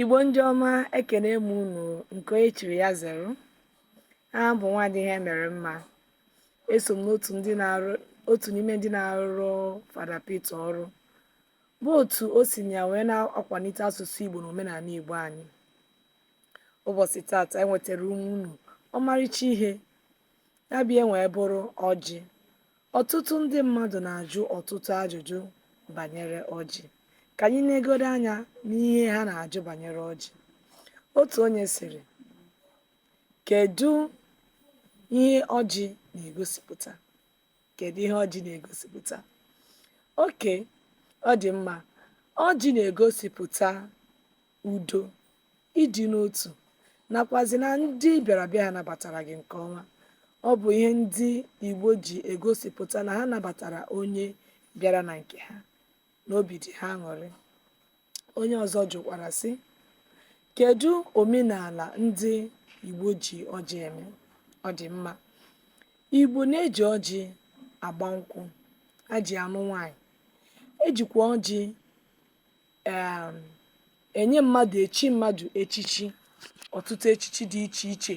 Igbo ndị ọma ekenee m unu nke onye chiri ya zere aha m bụ nwaanyị Ihemeremma eso m n'otu ndị na-arụ otu n'ime ndị na-arụrụ Fada Peter ọrụ bụ otu o si na ya wee na-akwalite asụsụ Igbo na omenala Igbo anyị ụbọchị tata enwetara m unu ọmarịcha ihe Ya bịa wee bụrụ ọjị. Ọtụtụ ndị mmadụ na-ajụ ọtụtụ ajụjụ banyere ọjị. Ka anyị negodo anya n'ihe ha na-ajụ banyere ọjị. Otu onye sịrị, Kedụ ihe ọjị na-egosipụta? Kedụ ihe ọjị na-egosipụta? Okay, ọ dị mma. Ọjị na-egosipụta udo, ịdị n'otu nakwazị na ndị ị bịara be ha nabatara gị nke ọma. Ọ bụ ihe ndị Igbo ji egosipụta na ha nabatara onye bịara na nke ha na obi dị ha aṅụrị. Onye ọzọ jụkwara sị, kedu omenala ndị Igbo ji ọjị eme? Ọ dị mma. Igbo na-eji ọjị agba nkwụ, ha ji anụ nwaanyị, ejikwa ọjị um enye mmadụ echi mmadụ echichi ọtụtụ echichi dị iche iche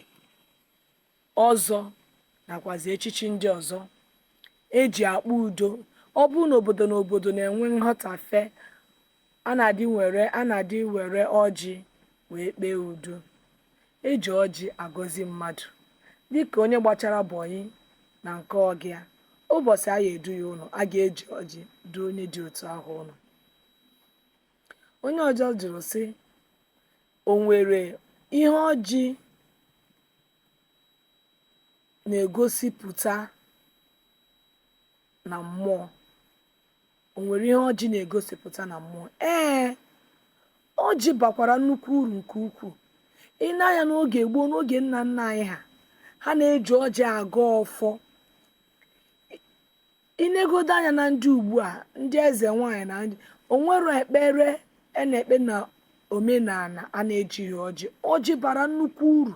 ọzọ nakwazi echichi ndị ọzọ eji ekpe udo ọ bụrụ na obodo na obodo na-enwe nghọtafe a na-adị were a na-adị were ọjị wee kpee udo eji ọjị agọzi mmadụ dịka onye gbachara bọyị na nke ọga ya ụbọchị a ya-edu ya ụlọ a ga-eji ọjị duo onye dị otu ahụ ụlọ onye ọzọ jụrụ sị o nwere ihe ọjị na-egosipụta na mmụọ o nwere ihe ọjị na-egosipụta na mmụọ ee ọjị bakwara nnukwu uru nke ukwuu i nee anya n'oge gboo n'oge nna nna anyị ha ha na-eji ọjị agọ ọfọ i negodo anya na ndị ugbu a ndị eze nwaanyị na ndị o nwerọ ekpere a na-ekpe na omenala a na-ejighị ọjị ọjị bara nnukwu uru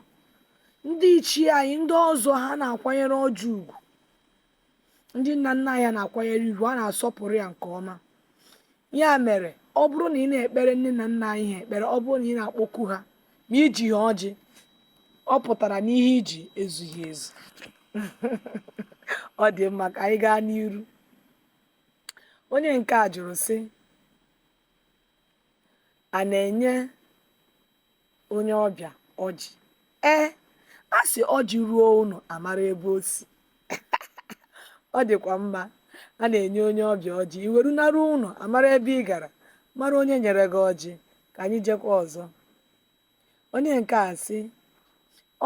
ndị ichie anyị ndị ọzọ ha na-akwanyere ọjị ugwu ndị nna nna anyị na-akwanyere ya ugwu a na-asọpụrụ ya nke ọma Ya mere, ọ bụrụ na ị na-ekpere nne na nna anyị ha ekpere, ọ bụrụ na ị na-akpọku ha ma i jighị ọjị, ọ pụtara na ihe i ji ezughị ezu. Ọ dị mma ka anyị gaa n'iru. Onye nke a jụrụ sị, a na-enye onye ọbịa ọjị ee a sị ọjị ruo ụlọ a mara ebe o si ọ dịkwa mma a na-enye onye ọbịa ọjị i weru naruo ụlọ a mara ebe ị gara mara onye nyere gị ọjị ka anyị jekwa ọzọ onye nke a sị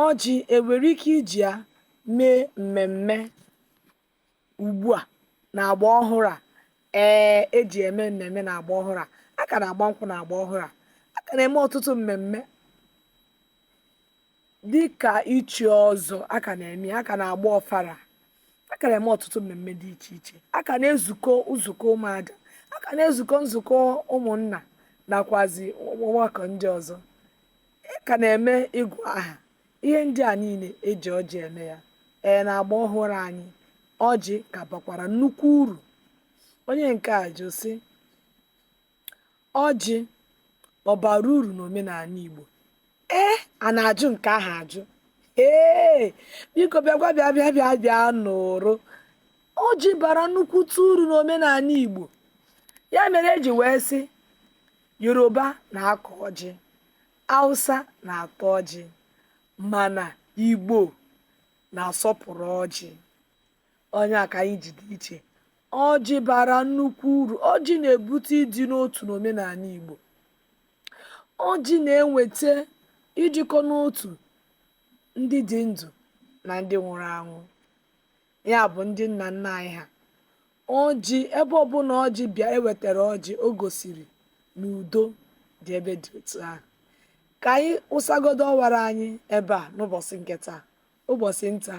ọjị e nwere ike iji ya mee mmemme ugbu a na agba ọhụrụ a ee e ji eme mmemme na agba ọhụrụ a a ka na-agba nkwụ na agba ọhụrụ a a ka na-eme ọtụtụ mmemme dịka ichi ọzọ a ka na-eme a ka na-agba ọfala a ka na-eme ọtụtụ mmemme dị iche iche a ka na-ezukọ nzukọ ụmụada a ka na-ezukọ nzukọ ụmụnna nakwazi ọgbakọ ndị ọzọ a ka na-eme ịgụ aha ihe ndị a niile e ji ọjị eme ya ee na agba ọhụrụ anyị ọjị ka bakwara nnukwu uru onye nke a jụ sị ọjị ọ bara uru n'omenala Igbo ee a na-ajụ nke ahụ ajụ ee biko bịakwa bịa bịa bịa bịa nụrụ ọjị bara nnukwute uru n'omenala Igbo ya mere e ji wee sị Yoruba na-akọ ọjị Awụsa na-ata ọjị mana Igbo na-asọpụrụ ọjị. Ọ ihe a ka anyị ji dị iche. Ọjị bara nnukwu uru. Ọjị na-ebute ịdị n'otu n'omenala Igbo. Ọjị na-eweta ịdịkọ n'otu ndị dị ndụ na ndị nwụrụ anwụ. Ya bụ ndị nna nna anyị ha. Ọjị, ebe ọbụla ọjị bịa e wetara ọjị o gosiri na udo dị ebe dị otu ahụ ka anyị wụsagodo ọwara anyị ebe a n'ụbọchị nke taa ụbọchị nta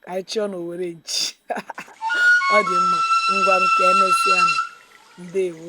ka anyị chụọ na owere nchi ọ dị mma ngwanụ ka emesịanụ ndewo